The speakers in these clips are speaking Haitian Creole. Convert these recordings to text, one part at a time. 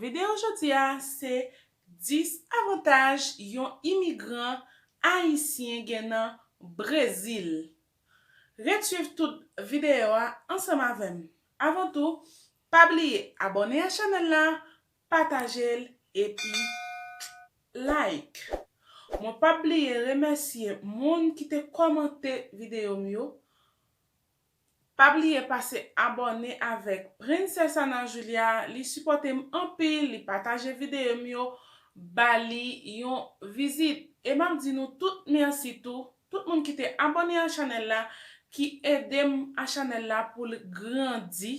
Videyo jodi a se 10 avantaj yon imigran ayisyen gen nan Brezil. Ret swiv tout videyo a ansanm avè m. Avan tou, pa bliye abòne a chanèl la, pataje l epi like. Mwen p ap bliye remèsye moun ki te kòmante videyo m yo Pa bliye pase abòne avèk Princess Ana Julia li sipòte m anpil li pataje videyo m yo ba li yon vizit e map di nou tout merci tou tout moun ki te abòne a chanèl la ki edem a chanèl la poul grandi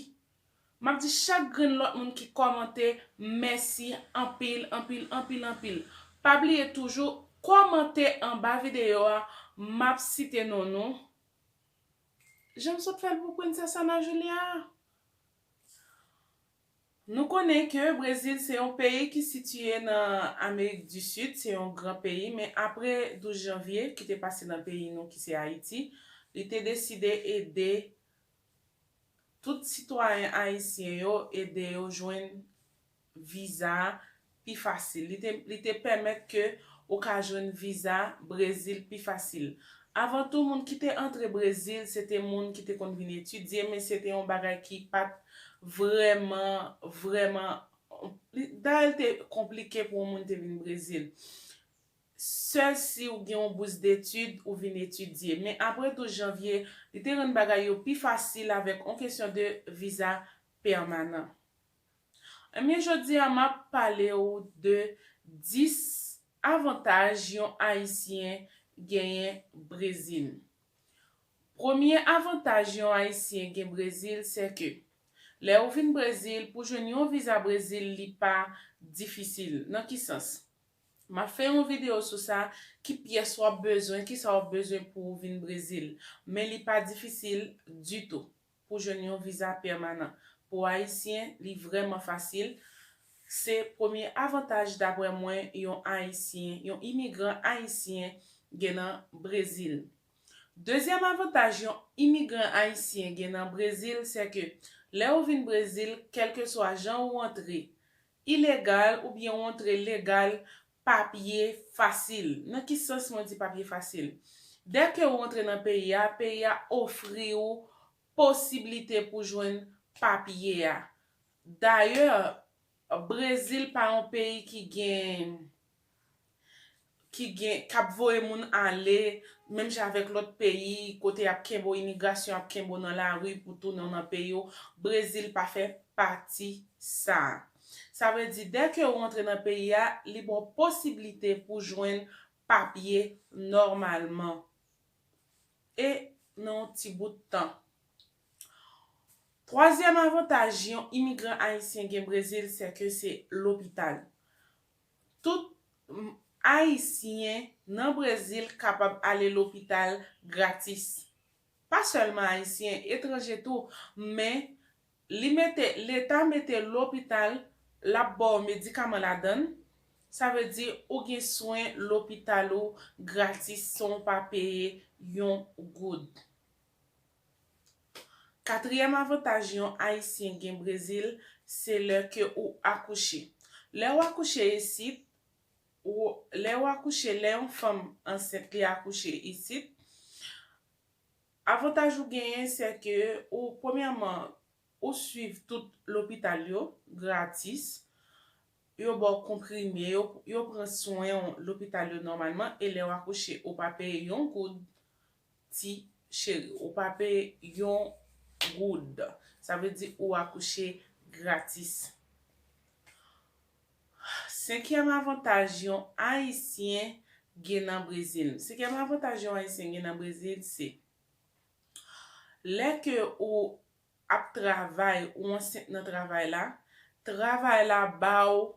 map di chak grenn lòt moun ki kòmante mèsi anpil anpil anpil anpil pa bliye toujou kòmante anba videyo a map site non nou Janm sot fèl pou Princess Ana Julia a. Nou konnen ke Brezil se yon peyi ki sitiye nan Amerik di Sid, se yon gran peyi, men apre 12 janvye ki te pase nan peyi nou ki se Ayiti, li te deside ede tout sitwayen ayisyen yo, ede yo jwenn viza a pi fasil. Li te li te pèmèt ke ou ka jwenn viza Brezil pi fasil. Avan tou moun ki te antre Brezil se te moun ki te konn vin etidye men se te yon bagay ki pa t vrèman vrèman li dayè li te konplike pou yon moun te vin Brezil. Sèl si ou gen yon bous detid ou vin etidye. Men apre 12 janvye li te rann bagay yo pi fasil avèk yon kesyon de viza pèmanan. Ebyen jodi a map pale ou de 10 avantaj yon ayisyen genyen brezil. Premye avantaj yon ayisyen gen brezil se ke lè ou vin brezil pou jwenn yon viza brezil li pa difisil nan ki sans? Map fè yon video sou sa ki pyès wap bezwen kisa wap bezwen pouw vin brezil men li pa difisil ditou. Pou jwenn yon viza pèmanan pou ayisyen li vrèman fasil, se premye avantaj daprè mwen yon ayisyen, yon imigran ayisyen gen nan Brezil. Dezyèm avantaj yon imigran ayisyen gen nan Brezil sè ke lè ou vin Brezil kèlkeswa jan ou antre ilegal oubyen ou antre legal Papye fasil. Nan ki sans mwen di papye fasil? Dè ke ou antre nan peyi a, peyi a ofri ou posiblite pou jwenn papye a. Dayè, Brezil pa yon peyi ki gen, ki gen, k ap voye moun ale, menm jan avèk lòt peyi, kote y ap kenbe w, imigrasyon ap kenbe w nan lari pou tounen w nan peyi w, Brezil pa fè pati sa a. Sa vle di dè ke ou antre nan peyi a, li ba w posiblite pou jwenn papye nòmalman e nan yon ti bout tan. Twazyèm avantaj yon imigran ayisyen gen Brezil se ke se lopital. Tout Ayisyen nan Brezil kapab ale lopital gratis. Pa sèlman Ayisyen, etranje tou, men Li mete, leta mete lopital, l ap ba w medikaman ladan l, sa vle di ou gen swen lopital ou gratis san w pa peye yon goud. Katriyèm avantaj yon Ayisyen gen Brezil, se lè ke ou akouche. Lè ou akouche isit, ou, lè ou akouche, lè yon fanm ansent li akouche isit, Avantaj ou genyen sè ke ou premyèman ou swiv tout lopital yo gratis, yo ba w konprime yo, yo pran swen w lopital yo nòmalman e lè w akouche ou pa peye yon goud ti cheri, ou pa peye yon goud. Sa vle di ou akouche gratis. Senkyèm avantaj yon Ayisyen gen nan Brezil. Senkyèm avantaj yon Ayisyen gen nan Brezil se, lè ke ou ap travay, ou ansent nan travay la, travay la ba ou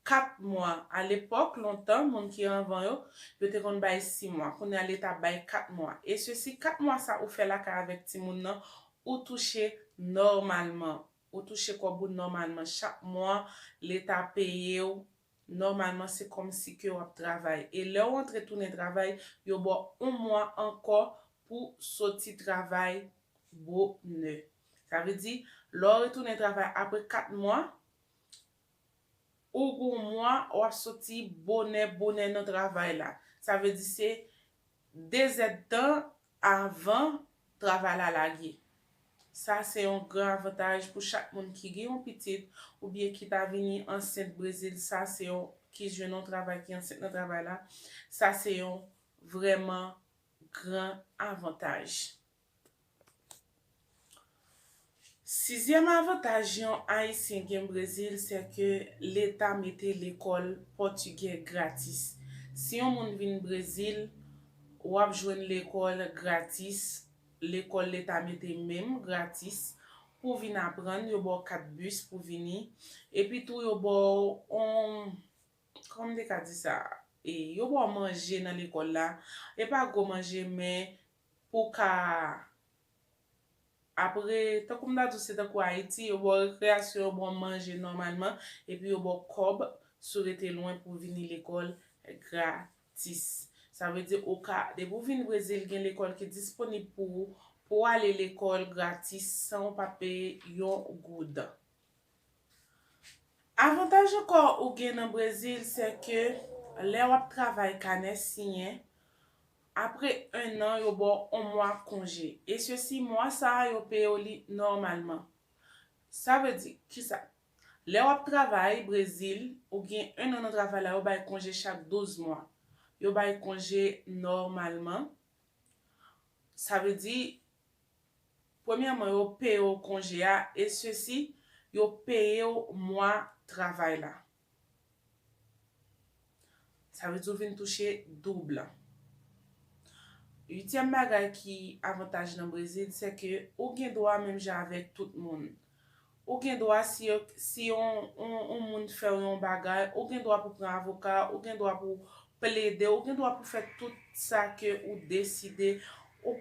4 mwa. A lepòk, lontan, moun ki anvan yo, yo te konn bay 6 mwa. Kounye a Leta bay 4 mwa. E sesi 4 mwa sa ou fè lakay avèk timoun nan, ou touche nòmalman. Ou touche kòb ou nòmalman chak mwa, leta peye w, nòmalman se kòmsi ke w ap travay. E lè w antre tounen travay, yo ba w yon mwa ankò pou w soti travay bonè. Sa vle di, lè w retounen travay apre 4 mwa, Ou gou mwa wa soti bonè bonè nan travay la. Sa vle di se 2 zèd tan avan travay la lage. Sa se yon gran avantaj pou chak moun ki gen yon pitit oubyen ki ta vini ansent Brezil sa se yon ki jwenn yon travay ki ansent nan travay la sa se yon vrèman gran avantaj. Sizyèm avantaj yon Ayisyen gen Brezil sè ke leta mete lekòl pòtigè gratis. Si yon moun vin Brezil, w ap jwenn lekòl gratis, lekòl leta mete menm gratis, pou w vin aprann, yo ba w kat bis pou vini, epi tou yo ba w yon, kòman m te ka di sa, yo ba w manje nan lekòl la, e pa gwo manje men pou w ka Apre, tankou m ta di w se tankou Ayiti, yo ba w rekreyasyon, yo ba w manje nòmalman, epi yo ba w kòb si w rete lwen pou w vini lekòl gratis. Sa vle di ou ka, depi w vin Brezil gen lekòl ki disponib pou ou, pou w ale lekòl gratis san w pa peye yon goud. Avantaj ankò ou gen nan Brezil sè ke lè w ap travay kanè siyen, Apre 1 an yo ba w on mwa konje e sesi mwa sa a yo peye w li nòmalman. Sa vle di kisa? Lè w ap travay Brezil, ou gen 1 an nan travay la yo bay konje chak 12 mwa. Yo bay konje nòmalman. Sa vle di premyèman yo peye w konje a e sesi yo peye w mwa travay la. Sa vle di ou vin touche double. Uityèm bagay ki avantaj nan Brezil se ke ou gen dwa menm jan avèk tout moun. Ou gen dwa si yo si yon yon moun fè w yon bagay, ou gen dwa pou pran avoka, ou gen dwa pou plede, ou gen dwa pou fè tout sa ke ou deside. Ou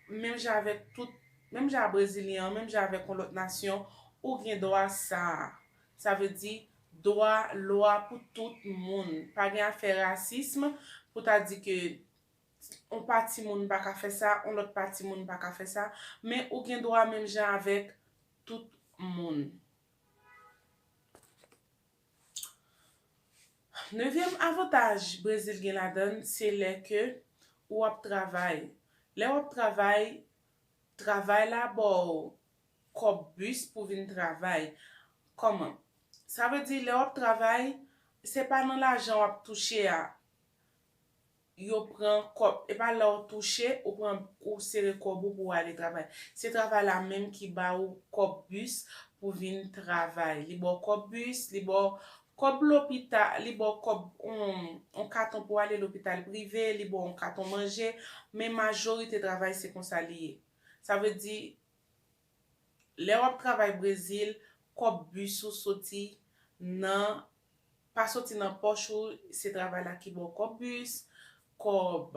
menm jan avèk tout menm jan a brezilyen an, menm jan avèk yon lòt nasyon, ou gen dwa sa a. Sa vle di, dwa, lwa pou tout moun. Pa gen afè rasism, pou ta di ke yon pati moun pa ka fè sa, yon lòt pati moun pa ka fè sa. Men ou gen dwa menm jan avèk tout moun. Nevyèm avantaj Brezil gen ladan l, se lè ke ou ap travay. Lè w ap travay, travay la ba w kòb bus pou vin travay. Kòman? Sa vle di lè wap travay se pa nan lajan wap touche a yo pran kòb, e pa lèw touche ou pran ou sere kòb ou pou ou ale travay. Se travay la menm ki ba ou kòb bus pou vin travay. Li ba w kòb bus, li ba w kòb lopita, li ba w kòb on katon pou ale lopital prive, li ba w on katon manje, men majorite travay se konsa li ye. Sa vle di Lè wap travay brezil kòb bus ou soti nan pa soti nan pòch ou se travay la ki baw kòb bus, kòb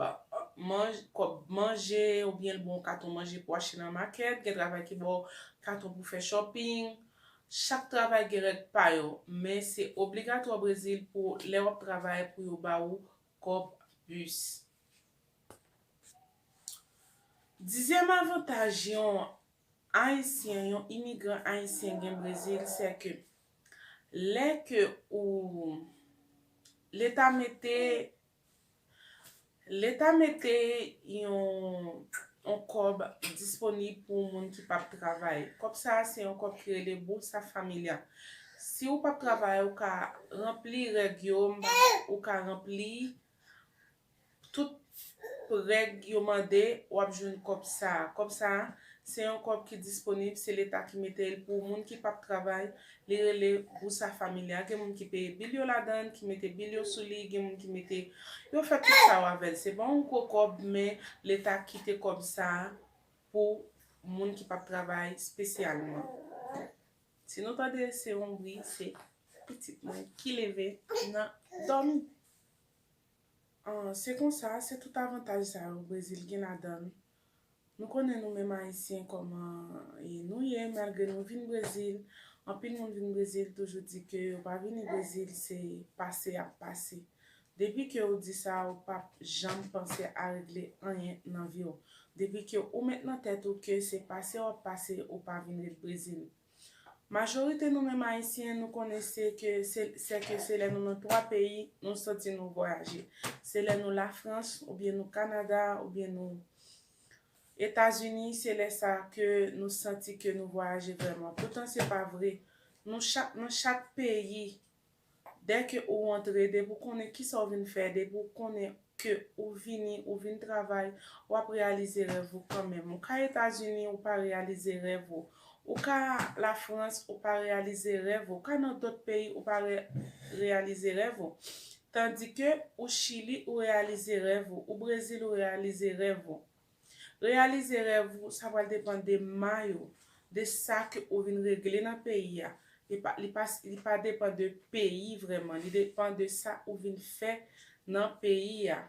kòb manje oubyen l baw yon katon manje pou achte nan makèt, gen travay ki baw katon pou fè shopping, chak travay gen règ pa yo men se obligatwa brezil pou lè wap travay pou yo ba ou kòb bus. Dizyèm avantaj yon Ayisyen, yon imigran Ayisyen gen Brezil sè ke lè ke ou leta mete leta mete yon kòb disponib pou moun ki pap travay. Kòb sa a se yon kòb ki rele Bolsa Familia. Si ou pap travay ou ka ranpli règ yo ou ka ranpli tout règ yo mande wap jwenn kòb sa kòb sa se yon kòb ki disponib se leta ki metel pou moun ki pap travay li rele bousa familia gen moun ki peye bil yo ladann ki mete bil yo sou li gen moun ki mete yo fè tout sa yo avèl se pa yon gwo kòb men leta kite kòb sa pou moun ki pap travay spesyalman. Si nou tande se yon bri se pitit mwen ki leve nan dòmi. Se konsa, se tout avantaj sa yo Brezil gen ladan l. Nou konnen nou menm Ayisyen kòman nou ye malgre nou vin Brezil. Anpil moun vin Brezil toujou di ke yo pa vini Brezil se pase y ap pase. Depi ke ou di sa ou pap janm panse a regle anyen nan vi w. Depi ke ou met nan tèt ou ke se pase wap pase ou pa vin ret Brezil. Majorite nou menm ayisyen nou konnen se ke se se ke se lè nou nan 3 peyi nou santi nou vwayaje. Se lè nou la frans ou byen nou kanada ou byen nou etazini se lè sa ke nou santi ke nou vwayaje vrèman. Poutan se pa vre. Nou chak nan chak peyi. Dèke ou rantre, depi ou konnen kisa ou vin fè, depi ou konnen ke ou vini, ou vin travay, w ap reyalize rèv ou kanmenm. Ou ka Etazini, ou pa reyalize rèv ou. Ou ka Lafrans, ou pa reyalize rèv ou. Ou ka nan dòt peyi, ou pa reyalize rèv ou. Tandike, ou Chili, ou reyalize rèv ou. Ou Brezil, ou reyalize rèv ou. Reyalize rèv ou sa pral depan de may ou, de sa ke ou vin regle nan peyi a, li pa depan de peyi vrèman, li depan de sa ou vin fè nan peyi a.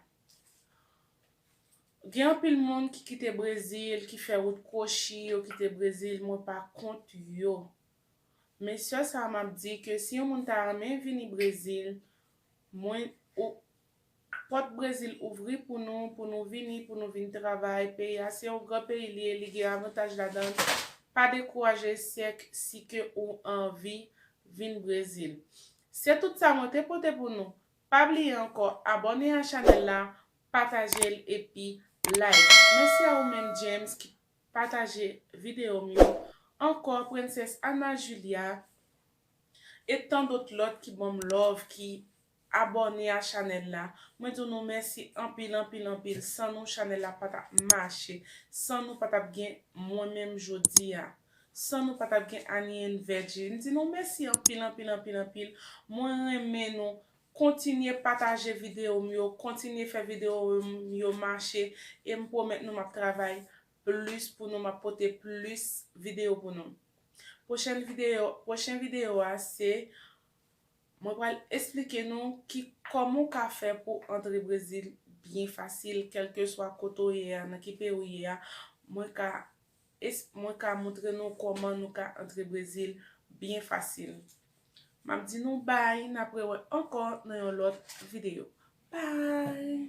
Gen anpil moun ki kite Brezil, ki fè wout kwochi, yo kite Brezil, mwen pa kont yo. Men sèl sa map di ke si yon moun ta renmen vini Brezil, mwen Pòt Brezil ouvri pou nou, pou nou vini, pou nou vin travay, peyi a se yon gran peyi li ye, li gen avantaj ladann, pa dekouraje sèk si ke ou anvi vin Brezil. Se tout sa mwen te pote pou nou, pa bliye ankò abòne a chanèl la, pataje l epi like. Mèsi a ou menm James ki pataje videyo m yo, ankò Princess Ana Julia, e tandot lòt ki banm love, ki Abòne a chanèl la. Mwen di w nou mèsi anpil anpil anpil. San nou chanèl la pa t ap mache. San nou pa t ap gen mwen menm jodi a. San nou pa t ap gen Anie and Veggie. M di nou mèsi anpil anpil anpil anpil. Mwen renmen nou. Kontinye pataje videyo m yo. Kontinye fè videyo m yo mache. E m pwomèt nou m ap travay plis pou nou. M ap pote plis videyo pou nou. Pwochen videyo a se. Mwen pral esplike nou ki kòman ou ka fè pou antre Brezil byen fasil kèlkeswa kote ou ye a nan ki peyi ou ye a mwen ka mwen ka moutre nou kòman nou ka antre Brezil byen fasil map di nou bay nap rewè ankò nan yon lòt video bay.